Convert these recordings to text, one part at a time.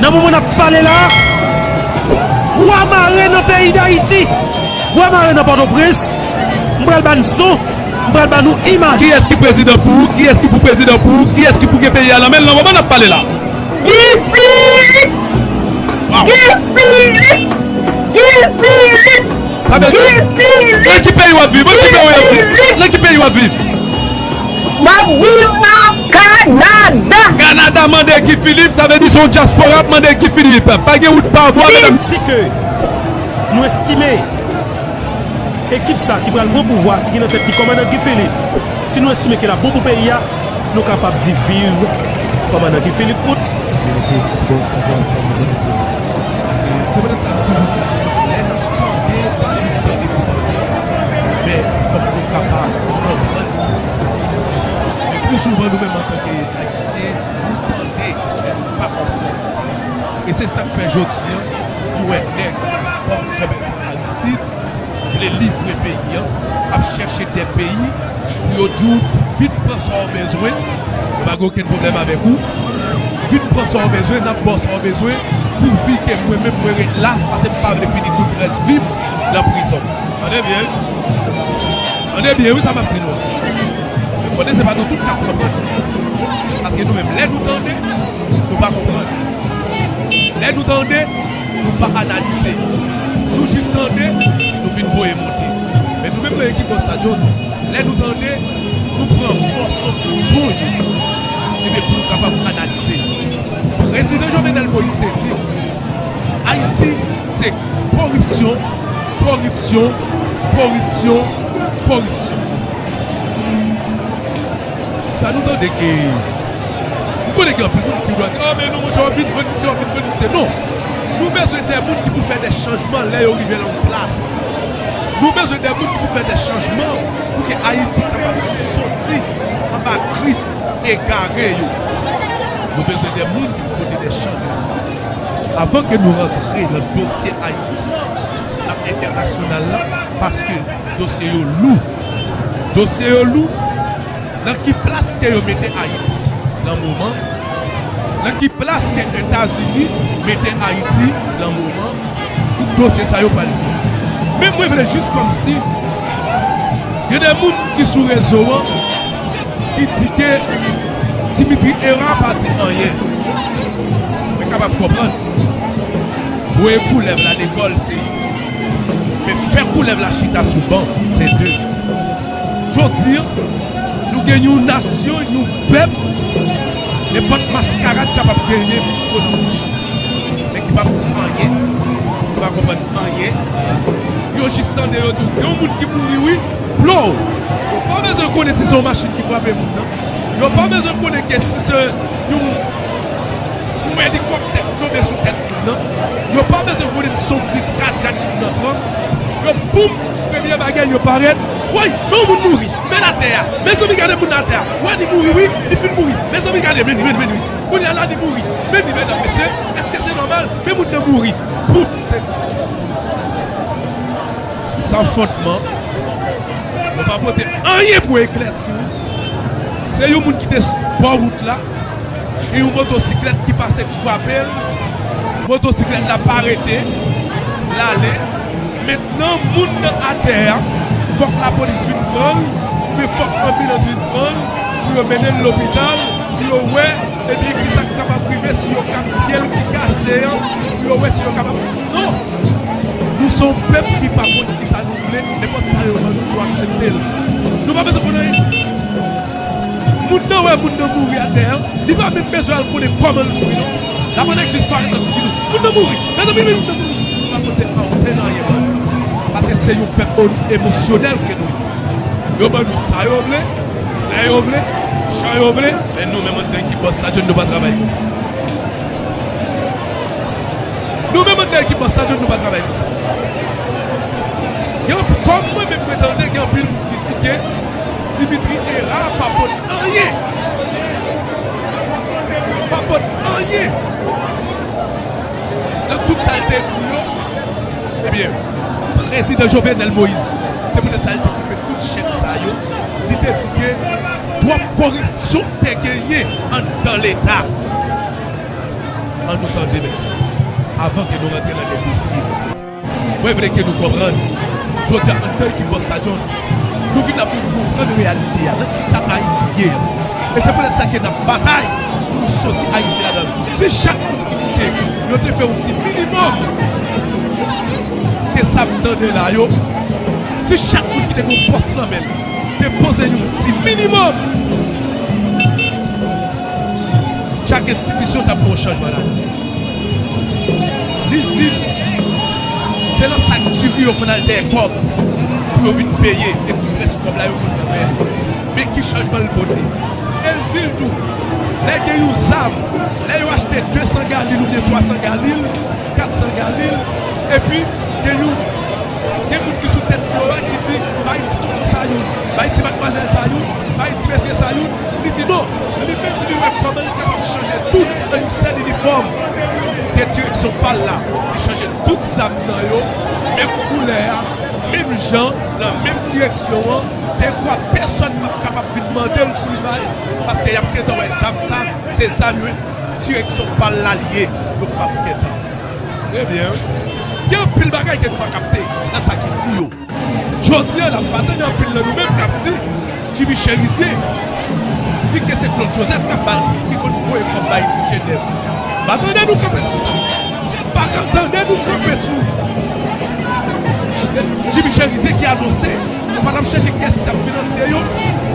Nan moman nap pale la, bwa mare nan peyi dayiti, bwa mare nan pòtoprens, m pral bann son, m pral ban nou imaj. Kiyès ki prezidan pou ou? Kiyès ki pou prezidan pou ou? Kiyès ki pou gen peyi a nan men l nan moman nap pale la? Guy Philippe! Guy Philippe! Guy Philippe! Sa bel tou. Nan ki peyi wap viv? Mwen ki peyi wap viv? Nan ki peyi wap viv? Map viv nan Kanada. Kanada mande Guy Philippe sa vle di se yon diaspora ap mande Guy Philippe. Pa gen wout pa bwa mesdames. Si ke nou estime ekip sa ki pral pran pouvwa ki gen nan tèt li kòmandan Guy Philippe, si nou estime ke lap bon pou peyi a, nou kapab di viv kòmandan Guy Philippe pout. Sa bel tou, Titi Bòs pa janm pran move desizyon. Se petèt sa nou toujou di. Tande li di tande pou tande, men fòk nou kapab konprann li tou. Men pli souvan nou menm antanke Ayisyen, nou tande men nou pa konprann. E se sa k fè jodi an nou wè nèg kòm Jean Bertrand Aristide vle livre peyi an, ap chèche dè peyi pou yo di w vin pran sa w bezwen, nou pa gen okenn pwoblèm avèk ou. Vin pran sa w bezwen, n ap ba w sa w bezwen pou vi ke mwen menm mwen ret la pase m pa vle fini tout rès vi m nan prizon. Tande byen wi. Tande byen wi sa m ap di nou an. Mwen konnen se pa nou tout k ap konprann. Paske nou menm lè nou tande, nou pa konprann. Lè nou tande, nou pa analize. Nou jis tande, nou vin voye monte. Men nou menm nan ekip Boss Tadjone, lè nou tande. nou pran mòso pou nou yo epi pou nou kapab analize yo. Prezidan Jovenel Moïse te di nou Ayiti se koripsyon, koripsyon, koripsyon, koripsyon. Sa nou tande ke m konnen gen anpil moun ki dwa di, a men non monchè w ap vin vann misye, w ap vin vann misye. Non, nou bezwen de moun ki pou fè de chanjman lè yo rive nan yon plas. Nou bezwen de moun ki pou fè de chanjman pou ke Ayiti kapab soti anba gri egare yo. Nou bezwen de moun ki pou pote de chanjman. Avan ke nou rantre nan dosye Ayiti nan entènasyonal la, paske dosye yo lou. Dosye yo lou. Nan ki plas ke yo mete Ayiti lan moman? Nan ki plas ke Etazini mete Ayiti lan moman? Dosye sa yo pral fini. Men mwen vle jis kòm si gen de moun ki sou rezo an ki di ke Dimitri Herard pa di anyen. Mwen kapab konprann. Voye koulèv la lekòl se youn. Men fè koulèv la chita sou ban se de. Jodi an, nou gen yon nasyon, yon pèp, nenpòt maskarad kapab genyen pou kò nan bouch li, men ki pap di anyen, ki pa konprann anyen. Yo jis tande, yo di w, gen yon moun ki mouri wi, plon! Yo pa bezwen konnen si se yon machin ki frape moun nan, yo pa bezwen konnen ke si se yon elikòptè ki tonbe sou tèt moun nan, yo pa bezwen konnen si se yon kriz kadyak moun nan pran, yo boum! Premye bagay yo parèt woy men yon moun mouri men atè a mezanmi gade moun nan atè a wè li mouri wi li fin mouri mezanmi gade men li men li kounya la li mouri men li mèdam mesye eske se nòmal men moun nan mouri pou se san fòt man yo pa pote anyen pou eklèsi w se yon moun ki te sou bò wout la gen yon motosiklèt ki pase frape l motosiklèt la pa rete l ale. Mentnan moun nan atè a fòk la polis vin pranl oubyen fòk anbilans vin pranl pou yo mennenl lopital pou yo wè ebyen kisak kapab rive si yo kap pyel ki kase an pou yo wè si yo kapab non nou son pèp ki pa konn kisa nou vle nenpòt sa yo ban nou nou akseptel nou pa bezwen konn anyen moun nan wè moun nan mouri atè an li pa menm bezwen al konnen kòmanl mouri non. La bonne ex disparèt nan figi nou. Moun nan mouri. Mezanmi moun nan mouri. Nou pa pote ankenn anyen ban yo. Paske se yon pèp emosyonèl ke nou ye. Yo ban nou sa yo vle, lè yo vle, jan yo vle, men nou menm antann ki bòs la John nou pa travay konsa. Nou menm antann ki bòs la John nou pa travay konsa. Yon kòm mwen menm mwen tande gen anpil moun ki di ke Dimitri Herard pa pot anyen. Pa pot anyen nan tout sa l te di yo. Ebyen, Prezidan Jovenel Moïse, se poutèt sa li te koupe tout chèn sa yo, li te di ke twòp koripsyon te genyen anndan Leta. An nou tande mèt la, avan ke nou rantre nan degosye. Mwen vle ke nou konprann, jodi a anndan ekip Busta John, nou vin la pou nou konprann reyalite a, nan kisa Ayiti ye a. E se poutèt sa ke n ap batay pou nou soti Ayiti ladan l. Si chak moun ki moute yo te fè yon ti minimòm de sa m tande la yo, si chak moun ki te gen yon pòs nan men l te poze yon ti minimòm, chak enstitisyon t ap gen yon chanjman ladan l. Li di, Se nan sak diri yo konn al dèyè kòb pou yo vin peye e tout rès kòb la yo konn nan men li. Men ki chanjman l pote. E l di l tou, Lè gen yon zam, lè yo achte 200 galil oubyen 300 galil, 400 galil, epi gen yon gen moun ki sou tèt blo a ki di, Bay ti tonton sa youn, bay ti matmwazèl sa youn, bay ti mesye sa youn, Li di non, li menm li wè kòman li kapab chanje tout an yon sèl inifòm. Tèt direksyon pa l la, li chanje tout zam nan yo menm koulè a, menm jan, lan menm direksyon an, dekwa pèsòn pap kapab vin mande l pou l bay, paske y ap gen tan wè zam sa, se zam yon direksyon pa l la li ye, yo pap gen tan. Trè byen. Gen anpil bagay ke nou pa kapte nan sa ki di yo. Jodi an la m pa tande anpil nan nou menm k ap di Jimmy Cherizier di ke se Claude Joseph k ap ba l tout ki konn voye kòb bay Genève. M pa tande nou kanpe sou sa. M pa ka tande nou kanpe sou Jimmy Cherizier ki anonse, nou pa t ap chèche kiyès ki t ap finanse yo,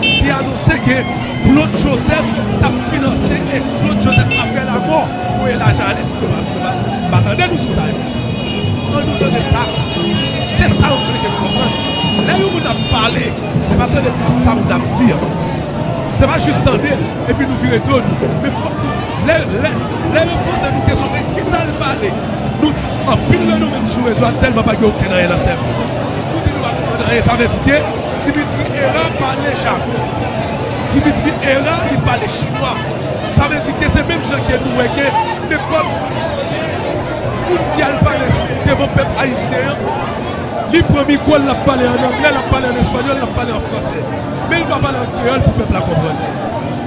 ki anonse ke Claude Joseph t ap finanse e Claude Joseph aprè lamò voye lajan ale. M pa tande nou sou sa yo. An nou tande sa, se sa yo vle ke nou konprann. Lè yon moun ap pale, se pa tande sa moun nan ap di an. Se pa jis tande l epi nou vire do nou. Men fòk nou, lè, lè, lè yo poze nou kesyon de ki sa l pale, nou, anpil nan nou menm sou rezo a tèlman pa gen okenn anyen nan sèvo nou, nou di nou pa konprann anyen. Sa vle di ke Dimitri Hera pale jagon. Dimitri Hera li pale chinwa. Sa vle di ke se menm jan ke nou wè ke nenpòt. Poukisa l pale devan pèp ayisyen an? Li pran mikwo l, l ap pale an anglè, l ap pale an espanyòl, l ap pale an fransè. Men l pa pale an kreyòl pou pèp la konprann.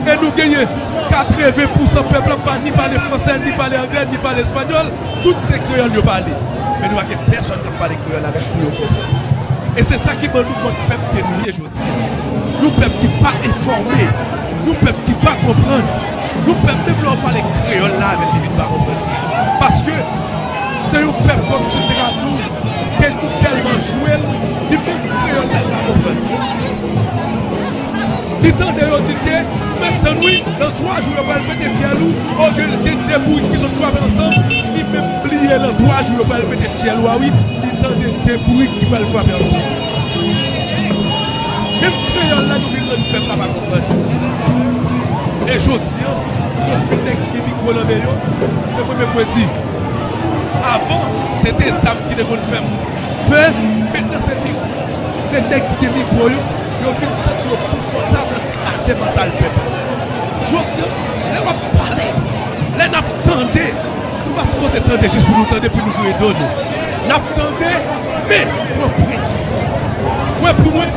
E nou genyen 80 pousan pèp la pa ni pale fransè, ni pale anglè, ni pale espanyòl. Tout se kreyòl yo pale. Men nou pa gen pèsòn k ap pale kreyòl avè l pou yo konprann. E se sa ki ban nou mòd pèp ke nou ye jodi a. Yon pèp ki pa enfòme. Yon pèp ki pa konprann. Yon pèp menm lè ou pale kreyòl la avèl li vin pa konprann li paske se yon pèp kòm si te ka diw gen nou tèlman jwel li menm kreyòl la li pa konprann li tande yo di te mèt tann wi nan 3 jou yo pral pete fyèl ou olye li te de bourik ki sot swape ansanm li menm bliye nan 3 jou yo pral pete fyèl ou a wi li tande 2 bourik ki pral swape ansanm. Menm kreyòl la nou bezwen pèp la pa konprann. E jodi an, nou gen anpil nèg ki gen mikwo nan men yo, men premye mwen di, avan se te zam ki te konn fè moun pè, mentnan se mikwo. Se nèg ki gen mikwo yo, yo vin santi yo konfòtab nan kraze mantal pèp la. Jodi an, lè w ap pale, lè n ap tande, nou pa sipoze tande jis pou nou tande, pou nou voye do nou. Nap tande men pran prank yo. Mwen pou mwen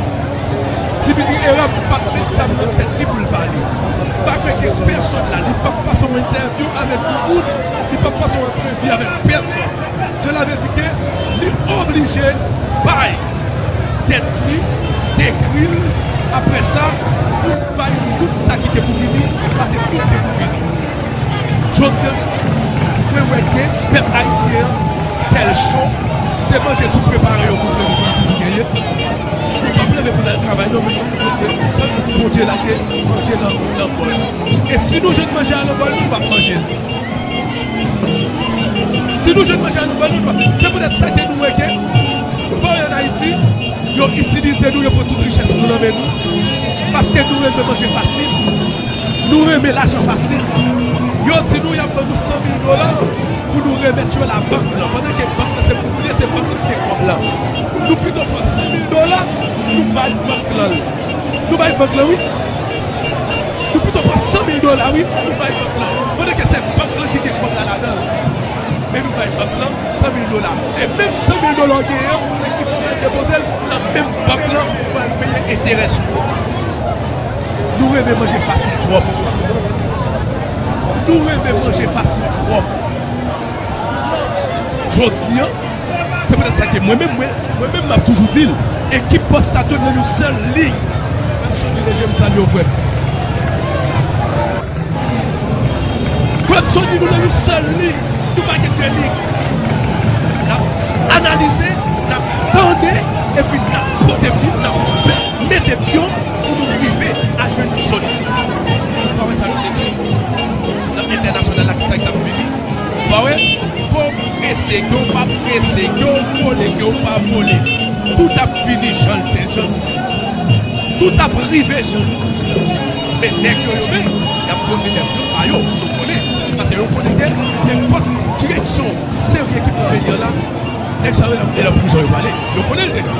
Dimitri Herard pat met zam nan tèt li poul pale. Li pa vle gen pèsòn la, li pap pase yon entèvyou avèk yon moun, li pap pase yon antrevi avèk pèsòn. Sela vle di ke li oblije bay tèt li, dekri l, aprè sa pou l bay tout sa ki gen pou vini, pase tout gen pou vini. Jodi an mwen wè ke pèp ayisyen an tèl cho, se manje tout prepare yo montre nou ke li toujou genyen. Yo pap leve pou nal travay non men yo montre ke tank Bondye la ke manje lan lan bòl. E si nou jwenn manje a lan bòl nou, nou pap manje l. Si nou jwenn manje a lan bòl nou, nou pap. Se poutèt sa ke nou wè ke pa w an Ayiti. Yo itilize nou, yo pran tout richès nou nan men nou, paske nou renmen manje fasil, nou renmen lajan fasil. Yo di nou y ap ban nou 100 mil dola pou nou remèt yo labank lan, pandan ke bank lan se pou nou li ye, se bank lan ki gen kòb la. Nou pito pran 100 mil dola, nou bay bank lan l. Nou bay bank lan wi. Nou pito pran 100 mil dola wi, nou bay bank lan, pandan ke se bank lan ki gen kòb la ladan l. Men nou bay bank lan, 100 mil dola e menm 100 mil dola w genyen an nan ki bank ou al depoze l nan menm bank lan ou pral peye enterè sou yo nou renmen manje fasil twòp nou renmen manje fasil twòp jodi an se petèt sa ke mwen menm mwen menm m ap toujou di l ekip Postad yo nan yon sèl liy Claudson Deleje m salye w frè m Claudson Deleje nou nan yon sèl liy Nou pa gen de lig. N ap analize, n ap tande epi n ap pote pyon, n ap mete pyon pou nou rive a jwenn yon solisyon. Ou pa wè sa yo te di nan entènasyonal la, ki sa ki t ap vini? Ou pa wè? Ke w prese, ke w pa prese, ke w vole, ke w pa vole, tout ap vini jan l te, jan nou di l la. Tout ap rive jan nou di l la. Men nèg yo yo menm yap poze de plan pa yo pou yo konnen pase yo konnen ke nenpòt direksyon serye ki pou peyi an la nèg sa yo nan e nan prizon yo prale yo konnen l deja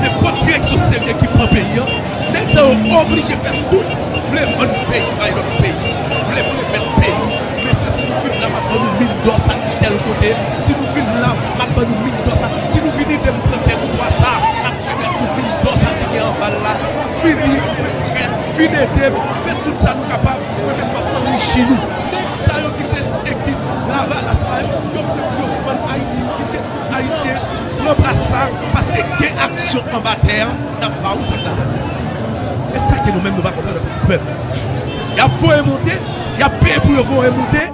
nenpòt direksyon serye ki pran peyi an nèg sa yo oblije fè tout vle vann peyi bay lòt peyi vle m remèt peyi men sa si nou fin la map ban nou min dò sa ki tèl kote si nou fin la map ban nou min dò sa si nou vini de m pran tè nou twa sa map remèt nou min dò sa ki gen anba l la. Vini, mwen prè, vin edem, fè tout sa nou kapab, mwen menm map anrichi nou. Nèg sa yo ki se ekip lavalas la yo, yo prè pou yo vann Ayiti, fouze tout Ayisyen, pran plas sa, paske gen aksyon anba tè a, nap ba ou zam ladann yo. E sa ke nou menm nou pa konprann antanke pèp. Yap voye monte, yap peye pou yo voye monte.